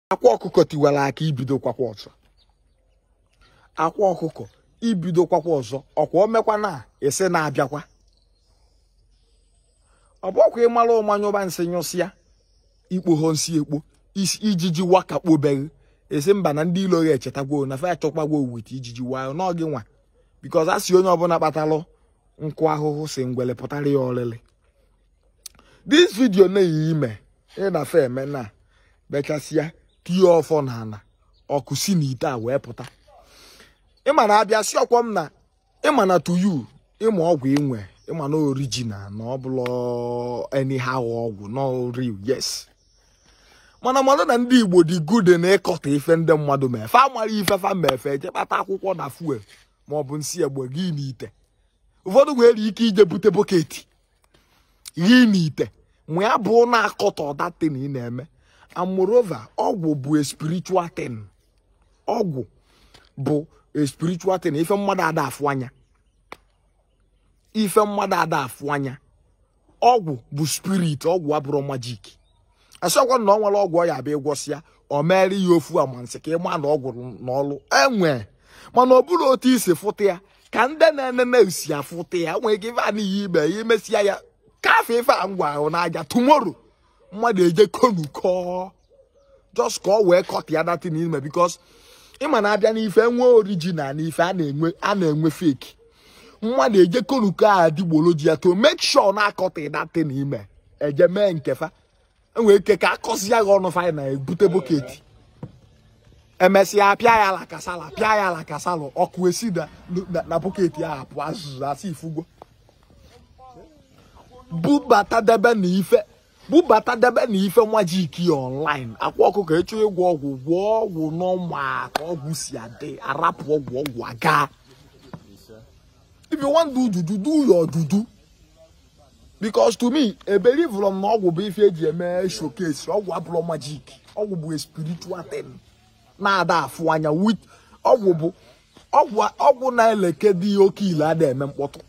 akwa ọkụkọ tiwara akị ibido kwakwa ọzọ akwa ọkụkọ ibido kwakwa ọzọ ọkwa omekwa na ese na-abịakwa ọ bụ ọkwa ị mara ụma nyụba nsị nyụsịa ikpoho nsị ekpo ijiji wakakpo be ghị ị sị mba na ndị ilo ya echetagwo na fa achọkwagwo wit ijiji wayo n'oge nwa because a sị onye ọbụla kpatalụ nkụ ahụhụ sị ngwele pụtara ya olili this video na-eyi ime ị na fe eme na bechasịa tinye ọfọ na ala ọkụ si na ite a wee pụta ịma na abịa si ọkwọ m na ịma na to you ịma ọgwụ inwe ịma na original na ọ bụrọ anyhow ọgwụ na real yes mana mmadụ na ndị igbo dị good na ịkọta ife ndị mmadụ mee fa mara ife fa mee fe eje kpata akwụkwọ na fuel ma ọ bụ nsị egbe gị n'ite ụfọdụ nwere ike ije bute bọketi ghe n'ite mee ya bụ na-akọta that thing ị na-eme and moreover ọgwụ bụ a spiritual thing ọgwụ bụ a spiritual thing ife mmadụ ada afụ anya ife mmadụ ada afụ anya ọgwụ bụ spirit ọgwụ abụrọ magic asịọkwa na ọ nwere ọgwụ ọ ya-abụ ịgwọsịa ọ mere ya ofu amansị ka ịma na ọgwụ na ọlụ enwe mana ọ bụrọ otu i si afụta ya ka ndị na-enene usi afụta ya nwee ike ife a n'ihe ime ya imesịa ya ka fa ife a ngwa ahụ n'aja tomorrow mmadụ eje konu kọọ just ka ọ wee kọta ya that thing i me because ịma na a bịa n'ife enwe original na ife a na-enwe a na-enwe fake mmadụ eje konu kọọ adịgboloja to make sure na akọta that thing i me eje mee nke fa enwere ike ka akọsịa gị ọnụ fanyị na ebute boketi emesịa apịa ya ala kasala pịa ya ala kasala ọkụ esi na na- na boketi ahụ apụ azụzụ asị ifugo bubata debe na ife bubata debe na ife nwa jiki online akwa ọkụkọ ị chọọ ịgwọ ọgwụ gwọ ọgwụ n'ọma ka ọgwụ si adị arapụ ọgwụ ọgwụ aga if you want do juju do your juju because to me ebelivụrụ m na ọgwụ bụ ife eji eme showcase ọgwụ abụrọ magic ọgwụ bụ a spiritual thing na-ada afụ anya wit ọgwụ bụ ọgwụ ọgwụ na-ele nke dị ya oke ile ada eme mkpọtụ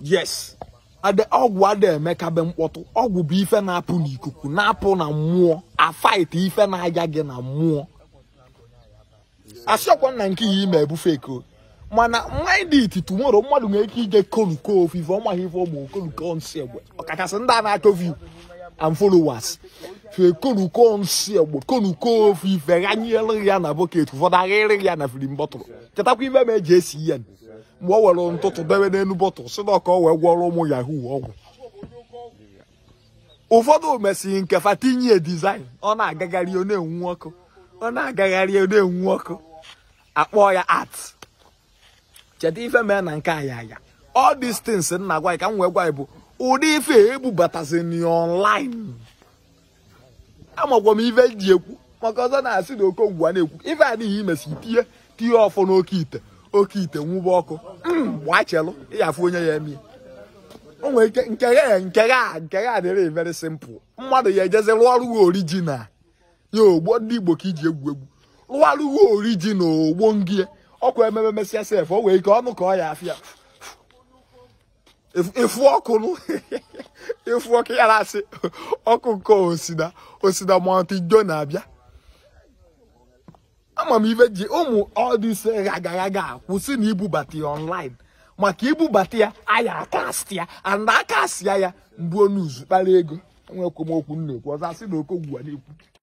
yes ada ọgwụ ada emekabe mkpọtụ ọgwụ bụ ife na-apụ n'ikuku na-apụ na mmụọ a fight ife na-aga gị na mmụọ asịọkwa na nke a i me bụ fake o mana mind it tomorrow mmadụ nwere ike ije koruko ofu ife ọ maghị ife ọ bụ koruko nsị egbe ọkachasị ndị a na-achọ view and followers fekonuko nsi egbe konuko ofe ife ghanyere ya na bucket ụfọdụ aghaịrị ya na filim bottle chetakwa ife m ji esi ya mgbe ọ were ntụtụ debe n'elu bottle sị na ọ ka o wee gwọọrọ ụmụ yahoo ọgwụ ụfọdụ mesịrị nke fa tinye design ọ na-agagharị ọ na-enwu ọkụ ọ na-agagharị ọ na-enwu ọkụ a kpọọ ya art cheta ife mee na nke aya aya all these things nna gwa ka m wee gwa bụ ụdị ife ebubatazi online amakwa m ife m ji ekwu maka ọzọ na-asị na okongwu a na-ekwu ife a n'ihi i mesịa tinye tinye ọfọ n'oke ite oke ite nwụba ọkụ hmm, gbachelụ ị ya-afụ onye ya-eme o nwere ike nke ya nke ya nke ya adịrị very simple mmadụ ya-ejezi rụọ ọrụ original ya ọgwụ ndị igbo ka i ji egwu egwu rụwara gị original ọgwụ ngị ọkwa ememe mesịa sef o nwee ike ọnụ ka ọ ya-afịa ịfụ ọkụ nụ ị fụ ọkụ ya na-asị ọkụ nke osina osina mọntị jo na-abịa ama m ife ji ụmụ ọdịse ghagaghaga kwụsị na ibubata ya online maka ibubata ya a ya-acast ya and a cast ya ya mgbuo n'uzu kpara ego enwekwa m okwu m na-ekwu ọzọ asị na okongwu a na-ekwu